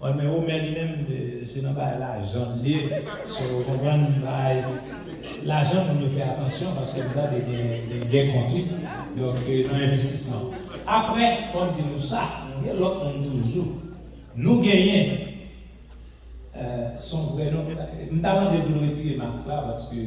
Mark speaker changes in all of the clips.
Speaker 1: Wi men Omer li menm se nan bagay lajan l ye so ou konprann bagay lajan moun yo fè atansyon paske m tande gen gè kont wi donk nan envestisman aprè fò m di nou sa nou gen lòt moun toujou nou genyen son vrè non m ta mande pou nou retire mas la paske.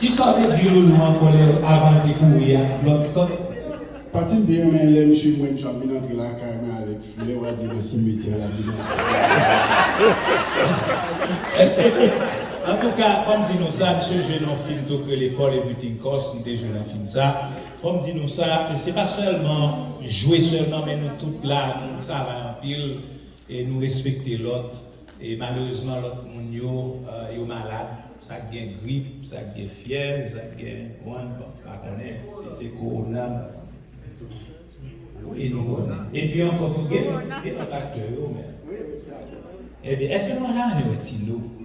Speaker 1: Kisa w te di Loulou an kòlè avan l te kouri ak lòt sòt? Pati m pi
Speaker 2: renmen lè misye wè m jan m vin antre lakay mwen avèk flè wa di nan simetyè a l ap vin antre.
Speaker 1: Antouka fò m di nou sa misye jwe nan yon fim tou k rele Paul Everything Cost m te jwe nan fim sa fò m di nou sa se pa sèlman jwe sèlman men nou tout la nou travay anpil E nou respekte lòt e malerezman lòt moun yo yo malad sa k gen grip sa k gen fyèv sa k gen one bon m pa konnen si se kowona wi nou konnen epi ankò tou gen lòt gen lòt aktè yo men ebyen èske nou al anew ti nou.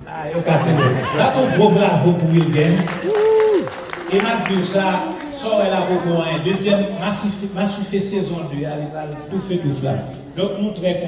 Speaker 3: Ah yo ka tounen.
Speaker 1: Bat yon gwo bravo pou Wilguens. E map diw sa, sa w wè la poko anyen. Dezyèm masufe sezon 2 a li pral toufe touf la. Donk nou trè kontan.